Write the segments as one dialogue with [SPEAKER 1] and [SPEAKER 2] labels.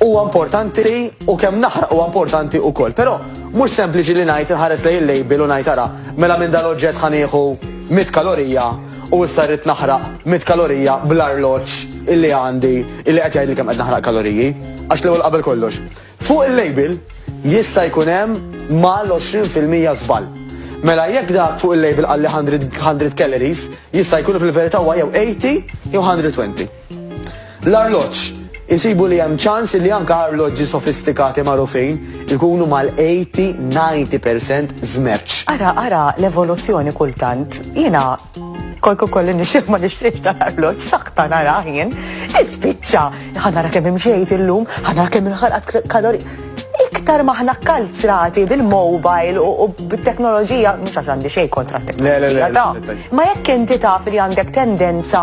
[SPEAKER 1] huwa importanti u kemm naħraq huwa importanti wkoll. Però mhux sempliċi li ngħid inħares lejn il-label u ngħid ara, mela minn dal-oġġett ħa nieħu 100 kalorija u issa rrid naħraq 100 kalorija bl-arloġġ illi għandi illi qed jgħidli kemm qed naħraq kaloriji. Għax l-ewwel qabel kollox. Fuq il-label jista' jkun hemm mal-20% żball. Mela jekk da fuq il-label qalli 100 calories, jista' jkun fil-verità huwa jew 80 jew 120. L-arloġġ. Isibu li hemm ċans li anke arloġġi sofistikati magħrufin ikunu mal-80-90% żmerċ. Ara, ara
[SPEAKER 2] l-evoluzzjoni kultant. Jiena kolku kolli nixtieq ma nixtieq tal-arloġġ sakta nara jien. Ispiċċa, ħanara kemm imxejt illum, ħanara kemm inħalqat kalori. Iktar maħna kalzrati bil-mobile u bit-teknoloġija, mhux għax għandi xejn kontra t-teknoloġija. Ma jekk inti taf li għandek tendenza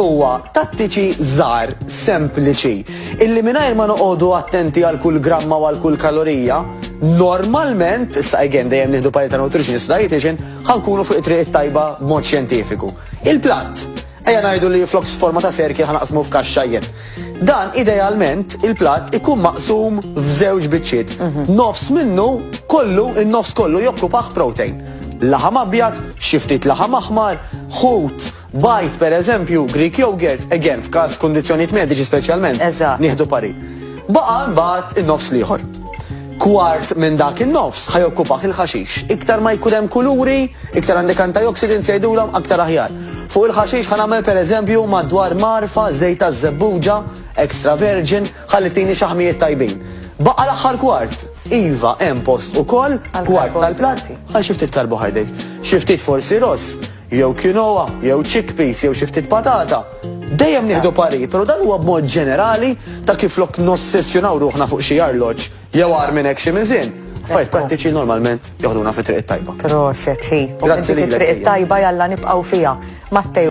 [SPEAKER 1] huwa tattiċi żgħar, sempliċi, illi mingħajr ma noqogħdu attenti għal kull gramma u għal kull kalorija, normalment, issa again dejjem nieħdu parita ta' nutritionist dietitian, ħankunu fuq it-triq tajba b'mod xjentifiku. Il-platt, ejja ngħidu li flok forma ta' serki ħanaqsmu f'kaxxajjen. Dan idealment il-platt ikun maqsum f'żewġ biċċiet. Mhm. Nofs minnu kollu, in-nofs kollu jokkupaħ protein laħam abjad, xiftit laħam aħmar, ħut, Bajd, per eżempju, Greek yogurt, again, f'każ f'kundizzjonijiet mediċi speċjalment. Eżatt. Nieħdu parir. Baqa' mbagħad in-nofs l-ieħor. Kwart minn dak in-nofs ħajokkupah il-ħaxix. Iktar ma jkun hemm kuluri, iktar għandek antioxidants jgħidulhom aktar aħjar. Fuq il-ħaxix ħa nagħmel pereżempju madwar marfa, żejt taż-żebbuġa, extra virgin, ħalli tini xaħmijiet tajbin. Baqa' l-aħħar kwart. Iva, hemm post ukoll, kwart tal-plat, għal xi ftit karbohydrates. Xi ftit forsi ross, jew quinoa, jew chickpeas, jew xi ftit patata, dejjem nieħdu parir, però dan huwa b'mod ġenerali ta' kif flok nossessjonaw ruħna fuq xi arloġġ jew agħar minn hekk xi miżien, affarijiet prattiċi normalment joħduna fit-triq
[SPEAKER 2] it-tajba.
[SPEAKER 1] Proset, hi.
[SPEAKER 2] Grazzi lilek.
[SPEAKER 1] It-triq
[SPEAKER 2] it-tajba
[SPEAKER 1] jalla nibqgħu
[SPEAKER 2] fiha. Matteo.